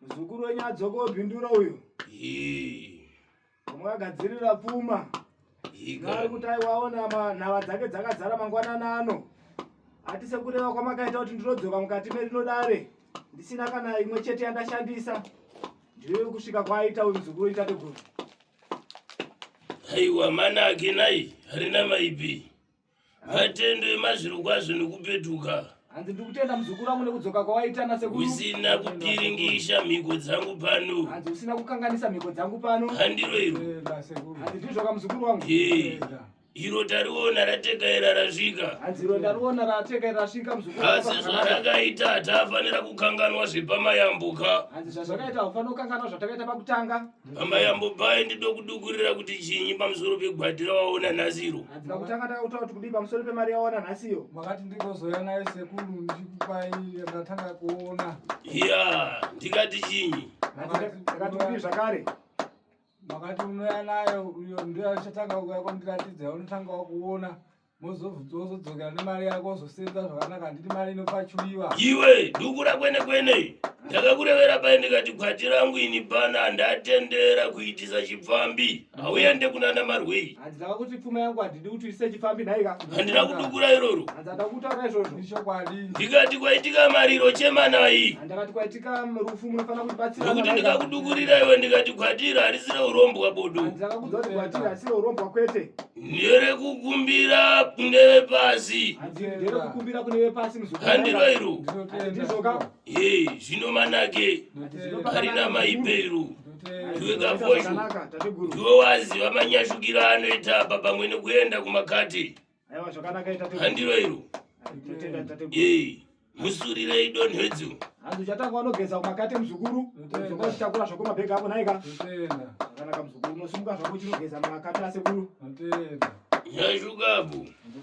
Muzukuru wenyu adzoka obhindura uyo. Vamwe vagadzirira pfuma. Nari kuti aiwaona nhava dzake dzakazara mangwanana ano. Ati sekureva kwamakaita kuti ndinodzoka mukati merinodare ndisina kana imwe chete yandashandisa. Ndiyo kusvika kwaaita uyu muzukuru wenyu tateguru. Aiwa mana ake nai harina maipi. Matende mazvirokwazvo nekupetuka. Hanzi ndiri kutenda muzukuru wangu nekudzoka kwawaita nasekuru. Usina kupiringisha mhiko dzangu pano. Hanzi usina kukanganisa mhiko dzangu pano. Handiro iro. Eh, Hanzi ndizvoka muzukuru wangu. Eh, iro tariona ratekaira rasvika. Hanzi iro ndariona ratekaira rasvika muzukuru. Asi zvarakaita hatafanira kukanganwa zvepamayambuka. Hanzi zvazvakaita haufanira kukanganwa zvatakaita pakutanga. Mama yambopai ndido kudukurira kuti chinyi pamusoro pegwati rawaona nhasi iro. Hadzina kuti akati akutaura kuti kudii pamusoro pemari yawaona nhasi iyo. Makati ndikazouya nayo sekuru ndikupai ndatanga kuona. Iya, ndikati chinyi? Ndakati kudii zvakare? Makati unouya nayo uyo ndiyo achatanga kuuya kwandiratidza unotanga wakuona. mozodzokera nemari yako ozosenza zvakanaka handiti mari inopachuiwa iwe dukura kwene kwene ndakakurevera pai ndikati kwati rangu ini pana ndatendera kuitisa chipfambi hauende kunana marwei handidaka kuti pfuma yangu handidi kuti uise chipfambi nhaika handina kudukura iroro handidada kutaura izvozvo ichokwadi ndikati kwaitika mariro chemanai handakati kwaitika rufu munofanira kutibatsira nokuti ndikakudukurira iwe ndikati kwatira harisira urombwa bodo handidaka kudzoti kwatira harisira urombwa kwete nderekukumbira kune vepasi handivairu zvino manake harina maibeiru iwe kafoshu ndiwe waziva manyashukiro anoita apa pamwe nekuenda kumakati handivairu musurirei donhedzo hanzi uchatanga wanogeza kumakate muzukuru uzoka uchitakura zvako mabhegi ako nhaika akanaka muzukuru unosimuka zvako uchinogeza makate asekuru nyashukapo